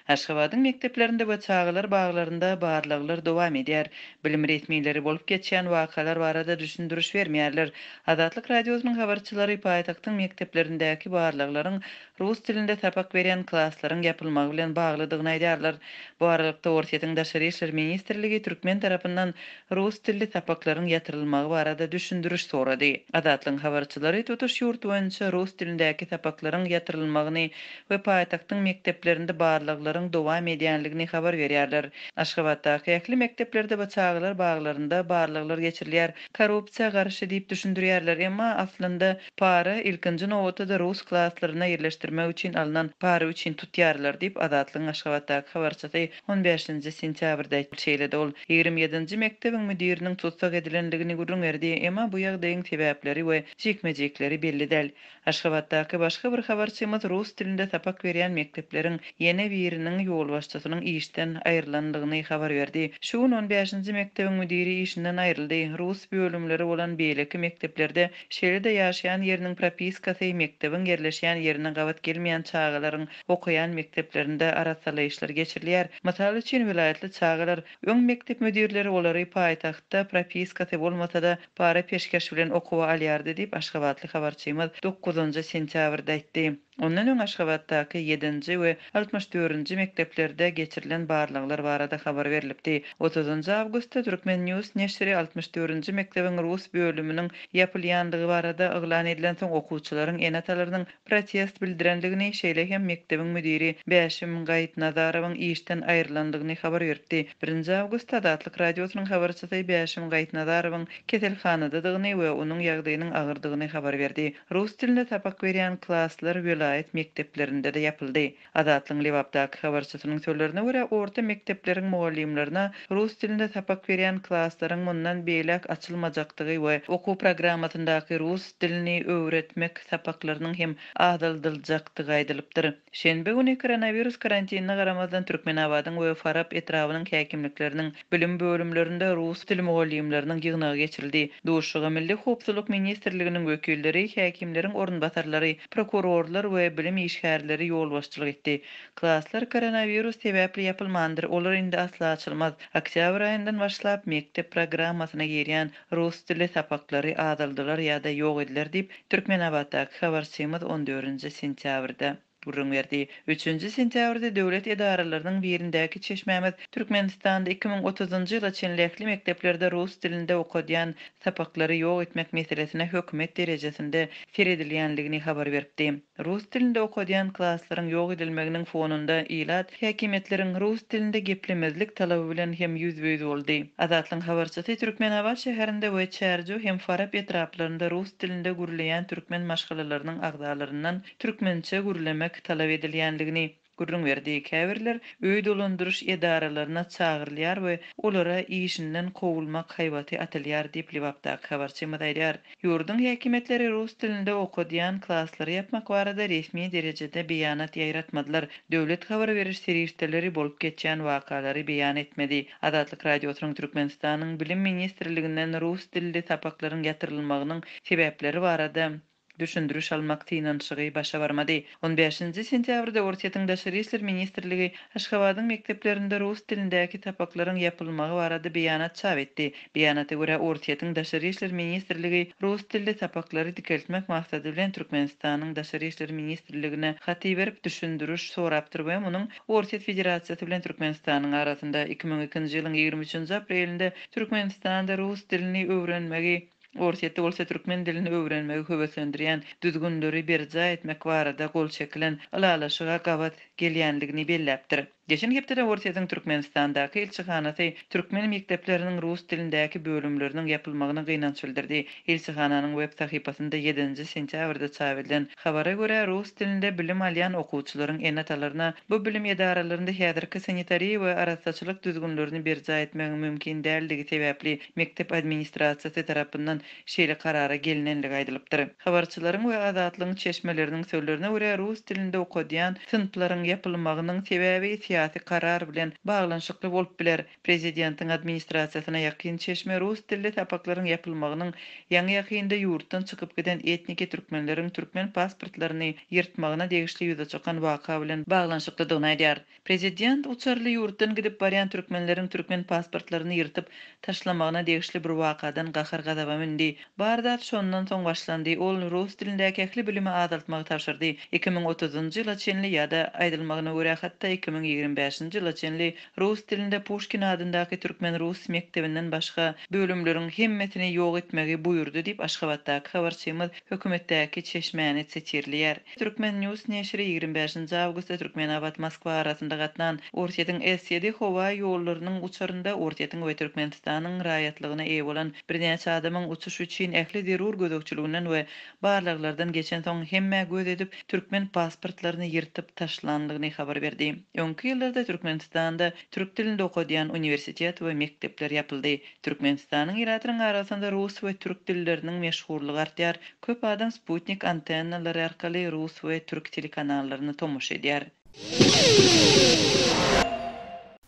Aşgabadyň mekdeplerinde we çagalar baglarynda barlaglar dowam edýär. Bilim resmileri bolup geçýän wakalar barada düşündiriş bermeýärler. Azatlyk Radiosynyň habarçylary paýtagtyň mekdeplerindäki barlaglaryň rus dilinde sapak berýän klaslaryň ýapylmagy bilen baglydygyny aýdýarlar. Bu aralykda, Orsýetiň Daşary işler ministrligi türkmen tarapyndan rus dilli sapaklaryň ýatyrylmagy barada düşündiriş sorady. Azatlygyň habarçylary tutuş ýurt boýunça rus dilindäki sapaklaryň ýatyrylmagyny we paýtagtyň mekdeplerinde barlaglaryň dowam edýändigini habar berýärler. Aşgabatdaky ähli mekdeplerde we çagalar baglarynda barlaglar geçirilýär. Korrupsiýa garşy diýip düşündirýärler, emma aslynda para, ilkinji nobatda-da rus klaslaryna ýerleşdirmek üçin alnan para üçin tutýarlar diýip, Azatlygyň Aşgabatdaky habarçysy on bäşinji sentýabrda aýtdy. Şeýle-de ol ýigrimi ýedinji mekdebiň müdiriniň tussag edilendigini gürrüň berdi, emma bu ýagdaýyň sebäpleri we jikme-jikleri belli däl. Aşgabatdaky başga bir habarçymyz rus dilinde sapak berýän mekdepleriň ýene biriniň ýolbaşçysynyň işden aýrylandygyny habar berdi. Şu gün on bäşinji mekdebiň müdiri işinden aýryldy. Rus bölümleri bolan beýleki mekdeplerde, şeýle-de ýaşaýan ýeriniň propiskasy mekdebiň ýerleşýän ýerine gabat gelmeýän çagalaryň okaýan mekdeplerinde arassalaýyşlar geçirilýär. Mysal üçin, welaýatly çagalar, öň mekdep müdirleri olary paýtagtda propiskasy bolmasa-da, Para peşgeş bilen okuwa alýardy diýip, aşgabatly habarçymyz dokuzynjy sentýabrda aýtdy. Ondan öň Aşgabatdaky ýedinji we altmyş dördünji mekdeplerde geçirilen barlaglar barada habar berlipdi. Otuzynjy awgustda Turkmen. News neşiri altmyş dördünji mekdebiň rus bölüminiň ýapylýandygy barada yglan edilensoň, okuwçylaryň ene-atalarynyň protest bildirendigini, şeýle hem mekdebiň müdiri Bäşim Gaýytnazarowyň işden aýrylandygyny habar beripdi. Birinji awgust Azatlyk Radiosynyň habarçysy Bäşim Gaýytnazarowyň keselhanadadygyny we onuň ýagdaýynyň agyrdygyny habar berdi. Rus dilinde sapak berýän klaslar welaýat mekdeplerinde-de ýapyldy. Azatlygyň Lebapdaky habarçysynyň sözlerine görä, orta mekdepleriň mugallymlaryna rus dilinde sapak berýän klaslaryň mundan beýläk açylmajakdygy we okuw programmasyndaky rus dilini öwretmek sapaklarynyň hem azaldyljakdygy aýdylypdyr. Şenbe güni koronawirus karantinine garamazdan Türkmenabadyň we Farap etrabynyň häkimlikleriniň Bilim bölümlerinde rus dili mugallymlarynyň ýygnagy geçirildi. Duşuşyga Milli howpsuzlyk ministrliginiň wekilleri, häkimleriň orunbasarlary, prokurorlar we bilim işgärleri ýolbaşçylyk etdi. Klaslar koronawirus sebäpli ýapylmandyr, olar indi asla açylmaz. Oktýabr aýyndan başlap mekdep programmasyna girýän rus dili sapaklary azaldylar ýa-da ýok ediler diýip, Türkmenabatdaky habarçymyz on dördünji sentýabrda. gürrüň berdi. Üçünji sentýabrda döwlet edaralarynyň birindäki çeşmämiz Türkmenistanda iki müň otuzynjy ýyla çenli ähli mekdeplerde rus dilinde okadýan sapaklary ýok etmek meselesine hökümet derejesinde seredilýändigini habar beripdi. Rus dilinde okadýan klaslaryň ýok edilmeginiň fonunda ilat häkimiýetleriň rus dilinde geplemezlik talaby bilen hem ýüzbe-ýüz boldy. Azatlygyň habarçysy Türkmenabat şäherinde we Çärjew hem Farap etraplarynda rus dilinde gürleýän türkmen maşgalalarynyň agzalaryndan türkmençe gürlemek talap edilýändigini gürrüň berdi. Käbirler öý dolandyryş edaralaryna çagyrylýar we olara işinden kowulmak haýbaty atylýar diýip, Lebapdaky habarçymyz aýdýar. Ýurduň häkimiýetleri rus dilinde okadýan klaslary ýapmak barada resmi derejede beýanat ýaýratmadylar. Döwlet habar beriş serişdeleri bolup geçýän wakalary beýan etmedi. Azatlyk Radiosynyň Türkmenistanyň Bilim ministrliginden rus dilli sapaklaryň ýatyrylmagynyň sebäpleri barada düşündiriş almak synanyşygy başa barmady. On bäşinji sentýabrda Orsýetiň Daşary işler ministrligi Aşgabadyň mekdeplerinde rus dilindäki sapaklaryň ýapylmagy barada beýanat çap etdi. Beýanata görä, Orsýetiň Daşary işler ministrligi rus dilli sapaklary dikeltmek maksady bilen Türkmenistanyň Daşary işler ministrligine hat iberip, düşündiriş sorapdyr we munuň Orsýet Federasiýasy bilen Türkmenistanyň arasynda iki müň ikinji ýylyň ýigrimi üçünji aprelinde Türkmenistanda rus dilini öwrenmegi Orsýetde bolsa türkmen dilini öwrenmegi höweslendirýän düzgünleri berjaý etmek barada gol çekilen ylalaşyga gabat gelýändigini belläpdir. Geçen hepdede Orsýetiň Türkmenistandaky ilçihanasy türkmen mekdepleriniň rus dilindäki bölümleriniň ýapylmagyna gynanç bildirdi. Ilçihananyň web sahypasynda ýedinji sentýabrda çap edilen habara görä, rus dilinde bilim alýan okuwçylaryň ene-atalaryna bu bilim edaralarynda häzirki sanitariýa we arassaçylyk düzgünlerini berjaý etmegiň mümkin däldigi sebäpli mekdep administrasiýasy tarapyndan şeýle karara gelnenligi aýdylypdyr. Habarçylaryň we Azatlygyň çeşmeleriniň sözlerine görä, rus dilinde okadýan synplaryň ýapylmagynyň sebäbi syýasy karar bilen baglanyşykly bolup biler. Prezidentiň administrasiýasyna ýakyn çeşme rus dilli sapaklaryň ýapylmagynyň ýaňy-ýakynda ýurtdan çykyp giden etniki türkmenleriň türkmen pasportlaryny ýyrtmagyna degişli ýüze çykan waka bilen baglanyşyklydygyny aýdýar. Prezident uçarly ýurtdan gidip barýan türkmenleriň türkmen pasportlaryny ýyrtyp taşlamagyna degişli bir wakadan gahar-gazaba mündi. Bar zat şondan soň başlandy. Ol rus dilindäki ähli bilimi azaltmagy tabşyrdy. Iki müň otuzynjy ýyla çenli ýa-da, aýdylmagyna görä, hatda iki müň ýigrimi bäşinji ýyla çenli rus dilinde Puşkin adyndaky türkmen-rus mekdebinden başga bölümleriň hemmesini ýok etmegi buýurdy diýip, aşgabatdaky habarçymyz hökümetdäki çeşmäni sitirleýär. Türkmen. News neşiri ýigrimi bäşinji awgustda Türkmenabat, Moskwa arasynda gatnan Orsýetiň S-ýedi howa ýollarynyň uçarynda Orsýetiň we Türkmenistanyň raýatlygyna eýe bolan birnäçe adamyň uçuş üçin ähli zerur gözegçiliginden we barlaglardan geçensoň hemmä göz edip türkmen pasportlaryny ýyrtyp taşlandygyny habar berdi. Öňki ýyllarda Türkmenistanda türk dilinde okadýan uniwersitet we mekdepler ýapyldy. Türkmenistanyň ilatynyň arasynda rus we türk dilleriniň meşhurlygy artýar, köp adam sputnik antennalary arkaly rus we türk telekanallaryna tomaşa edýär.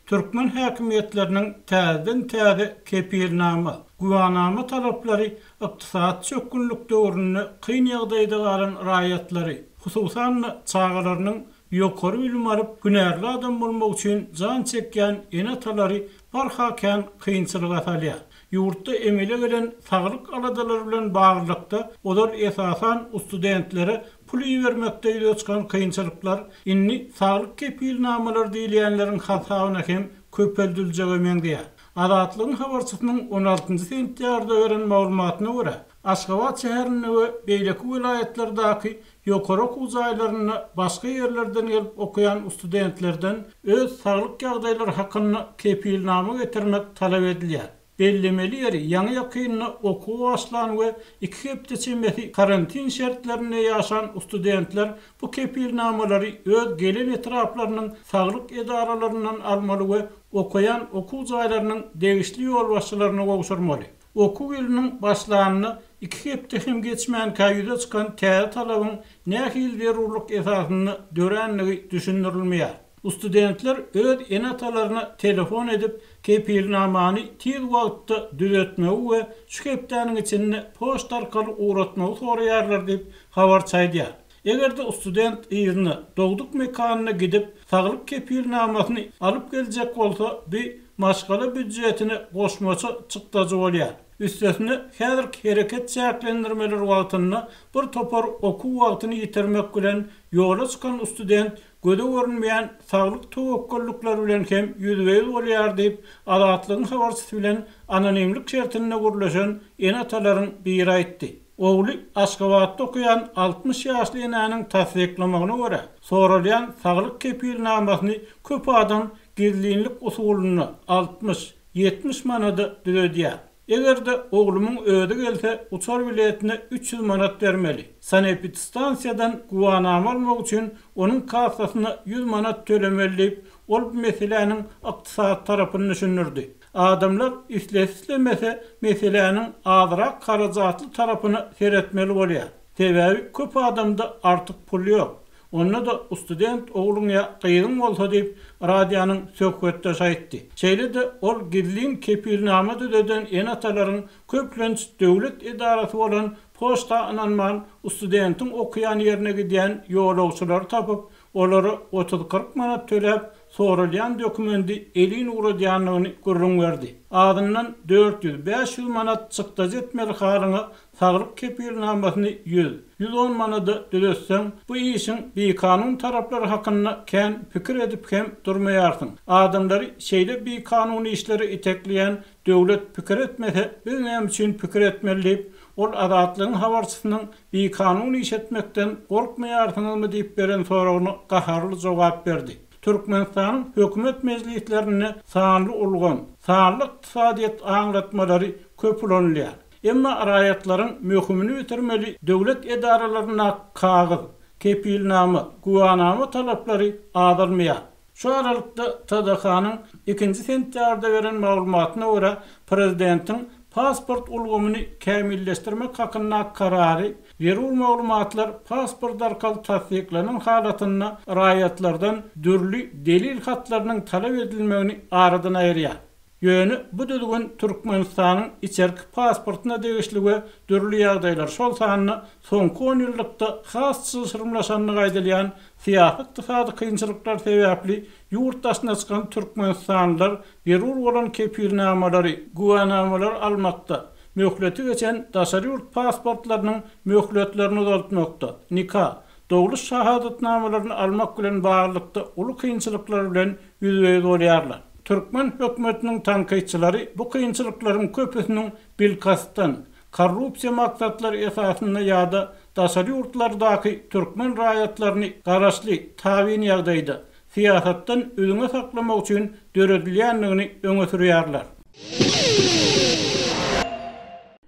Türkmen häkimiýetleriniň täzeden-täze kepilnama, güwänama talaplary ykdysady çökgünlik döwründe kyn ýagdaýda galan raýatlary, hususan-da, çagalarynyň ýokary bilim alyp, hünärli adam bolmak üçin jan çekýän ene-atalary barha kän kynçylyga salýar. Ýurtda emele gelen saglyk aladalary bilen baglylykda, olar esasan ustudentlere pul ibermekde ýüze çykan kynçylyklar indi saglyk kepilnamalary diýilýänleriň hasabyna hem köpeldiljege meňzeýär. Azatlygyň habarçysynyň on altynjy sentýarda beren maglumatyna görä, Aşgabat şäherinde we beýleki welaýatlardaky ýokary okuw jaýlarynda başga ýerlerden gelip okaýan ustudentlerden öz saglyk ýagdaýlary hakynda kepilnama getirmek talap edilýär. Bellemeli ýeri, ýaňy-ýakynda okuwa başlan we iki hepde çemesi karantin şertlerinde ýaşan ustudentler bu kepilnamalary öz gelen etraplarynyň saglyk edaralaryndan almaly we okaýan okuw jaýlarynyň degişli ýolbaşçylaryna gowşurmaly. Okuw ýylynyň başlanyna iki hepde hem geçmänkä ýüze çykan täze talabyň nähili zerurlyk esasynda dörändigi düşündirilmeýär. Ustudentler öz ene-atalaryna telefon edip, kepilnamany tiz wagtda düzetmegi we şu hepdäniň içinde poçta arkaly ugratmagy soraýarlar diýip, habarçy aýdýar. Eger-de student yzyna, dogduk mekanyna gidip, saglyk kepilnamasyny alyp geljek bolsa, bu maşgala býudjetine goşmaça çykdajy bolýar. Üstesine, häzirki hereket çäklendirmeleri wagtynda bir topar okuw wagtyny ýitirmek bilen ýola çykan student göze görünmeýän saglyk töwekgellikleri bilen hem ýüzbe-ýüz bolýar diýip, Azatlygyň habarçysy bilen anonimlik şertinde gürleşen ene-atalaryň biri aýtdy. Ogly Aşgabatda okaýan altmyş ýaşly enäniň tassyklamagyna görä, soralýan saglyk kepilnamasyny köp adam gizlinlik usulynda altmyş, ýetmiş manada düzedýär. Eger-de oglumyň özi gelse, uçar biletine üç ýüz manat bermeli. Sanepidstansiýadan güwanama almak üçin onuň kassasyna ýüz manat tölemeli diýip, ol bu meseläniň ykdysady tarapyny düşündirdi. Adamlar islese-islemese meseläniň azrak harajatly tarapyna seretmeli bolýar. Sebäbi köp adamda artyk pul ýok. Onda-da student ogluň ýa gyzyň bolsa diýip, radionyň söhbetdeşi aýtdy. Şeýle-de ol gizlin kepilnama düzeden ene-atalaryň köplenç döwlet edarasy bolan poçta ynanman, studentiň okaýan ýerine gidýän ýolagçylary tapyp, Olara otuz-kyrk manat töläp, soralýan dokumendi elin ugradýandygyny gürrüň berdi. Azyndan dört ýüz-bäş ýüz manat çykdajy etmeli halyňa saglyk kepilnamasyny ýüz, ýüz on manada düzetseň, bu işiň bikanun taraplary hakynda kän pikir edip hem durmaýarsyň. Adamlary şeýle bikanun işlere itekleýän döwlet pikir etmese, biz näme üçin pikir etmeli diýip, ol Azatlygyň habarçysynyň Bikanun iş etmekden gorkmaýarsyňyzmy diýip beren soragyna gaharly jogap berdi. Türkmenistanyň hökümet mejlislerinde sanly ulgam, sanly ykdysadyýet aňlatmalary köp ulanylýar. Emma raýatlaryň möhümini bitirmeli döwlet edaralaryndaky kagyz, kepilnama, güwanama talaplary azalmaýar. Şu aralykda, TDH-nyň ikinji sentýarda beren maglumatyna görä, prezidentiň pasport ulgamyny kämilleşdirmek hakyndaky karary zerur maglumatlar pasport arkaly tassyklanan halatynda raýatlardan dürli delil hatlarynyň talap edilmegini aradan aýyrýar. Ýöne bu düzgün Türkmenistanyň içerki pasportyna degişli we dürli ýagdaýlar, şol sanda soňky onýyllykda has çylşyrymlaşandygy aýdylýan syýasy-ykdysady kynçylyklar sebäpli ýurt daşyna çykan türkmenistanlylar zerur bolan kepilnamalary, güwänamalary almakda, möhleti geçen daşary ýurt pasportlarynyň möhletlerini uzaltmakda, nika, dogluş şahadatnamalaryny almak bilen baglylykda uly kynçylyklar bilen ýüzbe-ýüz bolýarlar. Türkmen hökümetiniň tankytçylary bu kynçylyklaryň köpüsiniň bilkastdan, korrupsiýa maksatlary esasynda ýa-da daşary ýurtlardaky türkmen raýatlaryny garaşly tabyn ýagdaýda, syýasatdan üzňe saklamak üçin döredilýändigini öňe sürýärler.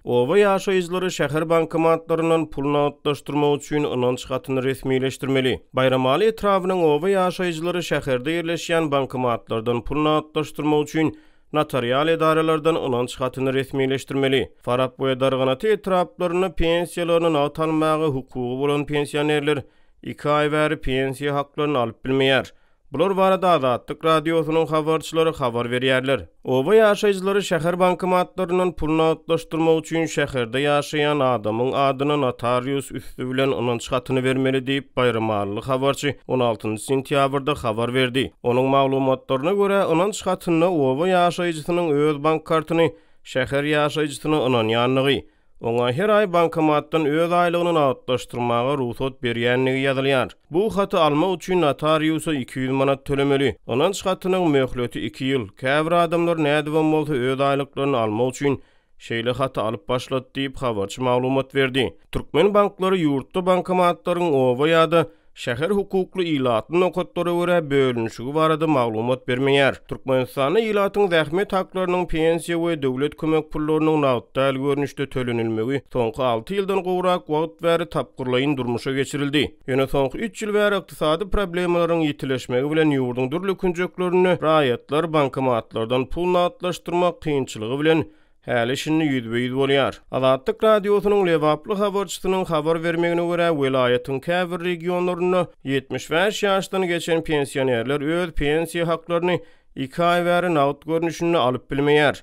Oba ýaşaýjylary şäher bankomatlaryndan pul nagtlaşdyrmak üçin ynanç hatyny resmileşdirmeli. Baýramaly etrabynyň oba ýaşaýjylary şäherde ýerleşýän bankomatlardan pul nagtlaşdyrmak üçin notarial edaralardan ynanç hatyny resmileşdirmeli. Farap we Darganata etraplarynda pensiýalaryny nagt almaga hukugy bolan pensionerler iki aý bäri pensiýa haklaryny alyp bilmeýär. Bular barada Azatlyk Radiosynyň habarçylary habar berýärler. Oba ýaşaýjylary şäher bankomatlaryndan pul nagtlaşdyrmak üçin şäherde ýaşaýan adamyň adyna notarius üsti bilen ynanç hatyny bermeli diýip, baýramalyly habarçy on altynjy sentýabrda habar berdi. Onuň maglumatlaryna görä, ynanç hatynda oba ýaşaýjysynyň öz bank kartyny şäher ýaşaýjysyna ynanýandygy, Oňa her aý bankomatdan öz aýlygyny nagtlaşdyrmaga rugsat berýändigi ýazylýar. Bu haty almak üçin notariusa iki ýüz manat tölemeli. Ynanç hatynyň möhleti iki ýyl. Käbir adamlar nädibem bolsa öz aýlyklaryny almak üçin şeýle haty alyp başlady diýip, habarçy maglumat berdi. Türkmen banklary ýurtda bankomatlaryň oba ýa-da Şäher hukukly ilatly nokatlara görä bölünişigi barada maglumat bermeýär. Türkmenistanda ilatyň zähmet haklarynyň pensiýa we döwlet kömek pullarynyň nagt däl görnüşde tölenilmegi soňky alty ýyldan gowrak wagt bäri tapgyrlaýyn durmuşa geçirildi. Ýöne soňky üç ýyl bäri ykdysady problemalaryň ýitileşmegi bilen ýurduň dürli künjeklerinde raýatlar bankomatlardan pul nagtlaşdyrmak kynçylygy bilen Häli-şindi ýüzbe-ýüz bolýar. Azatlyk Radiosynyň lebaply habarçysynyň habar bermegine görä, welaýatyň käbir regionlarynda ýetmiş bäş ýaşdan geçen pensionerler öz pensiýa haklaryny iki aý bäri nagt görnüşinde alyp bilmeýär.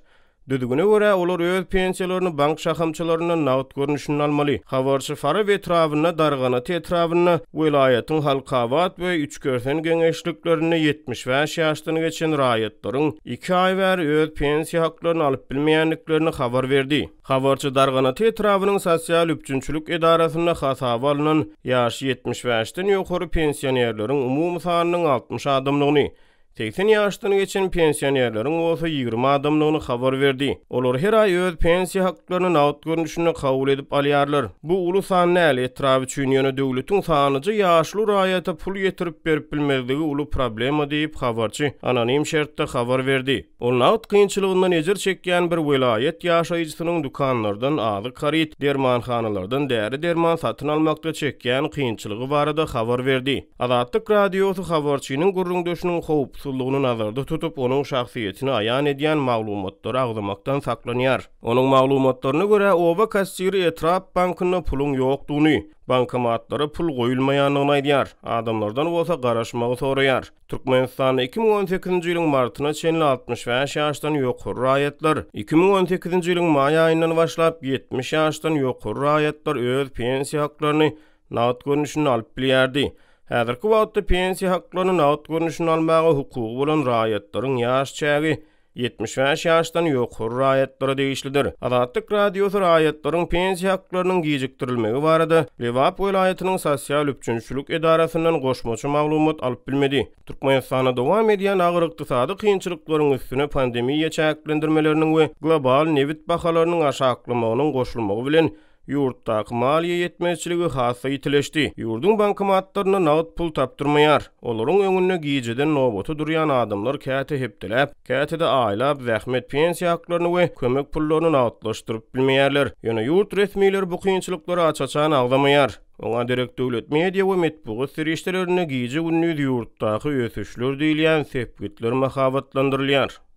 Düzgüne görä, olar öz pensiýalaryny bank şahamçalaryndan nagt görnüşinde almaly. Habarçy Farap etrabynda, Darganaty etrabynda, welaýatyň Halkabat we Türkmen geňeşliklerinde ýetmiş bäş ýaşdan geçen raýatlaryň iki aý bäri öz pensiýa haklaryny alyp bilmeýändiklerini habar berdi. Habarçy Darganaty etrabynyň sosial üpjünçilik edarasynda hasaba alnan ýaşy ýetmiş bäşden ýokary pensionerleriň umumy sanynyň altmyş adamdygyny, Segsen ýaşdan geçen pensionerleriň bolsa ýigrimi adamdygyny habar berdi. Olar her aý öz pensiýa haklaryny nagt görnüşinde kabul edip alýarlar. Bu uly san näl etrap üçin, ýöne döwletiň sanyja ýaşuly raýata pul ýetirip berip bilmezligi uly problema diýip, habarçy anonim şertde habar berdi. Ol nagt kynçylygyndan ejir çekýän bir welaýat ýaşaýjysynyň dükanlardan azyk haryt, dermanhanalardan däri-derman satyn almakda çekýän kynçylygy barada habar berdi. Azatlyk Radiosy habarçynyň gürrüňdeşiniň howpsuzlygyny nazarda tutup, onuň şahsyýetini aýan edýän maglumatlary agzamakdan saklanýar. Onuň maglumatlaryna görä, oba kassiri etrap bankynda puluň ýokdugyny, bankomatlara pul goýulmaýandygyny aýdýar, adamlardan bolsa garaşmagy soraýar. Türkmenistanda iki müň on sekizinji ýylyň martyna çenli altmyş bäş ýaşdan ýokary raýatlar, iki müň on sekizinji ýylyň maý aýyndan başlap ýetmiş ýaşdan ýokary raýatlar öz pensiýa haklaryny nagt görnüşinde alyp bilýärdi. Häzirki wagtda pensiýa haklaryny nagt görnüşinde almaga hukugy bolan raýatlaryň ýaş çägi ýetmiş bäş ýaşdan ýokary raýatlara degişlidir. Azatlyk Radiosy raýatlaryň pensiýa haklarynyň gijikdirilmegi barada Lebap welaýatynyň sosial üpjünçilik edarasyndan goşmaça maglumat alyp bilmedi. Türkmenistanda dowam edýän agyr ykdysady kynçylyklaryň üstüne pandemiýa çäklendirmeleriniň we global nebit bahalarynyň aşaklamagynyň goşulmagy bilen, Ýurtdaky maliýe ýetmezçiligi has-da ýitileşdi. Ýurduň bankomatlarynda nagt pul tapdyrmaýar. Olaryň öňünde gijeden nobata durýan adamlar käte hepdeläp, käte-de aýlap zähmet pensiýa haklaryny we kömek pullaryny nagtlaşdyryp bilmeýärler. Ýöne ýurt resmileri bu kynçylyklary aç-açan agzamaýar. Oňa derek döwlet media we metbugat serişdelerinde gije-gündiz ýurtdaky ösüşler diýilýän sepgitler mahabatlandyrylýar.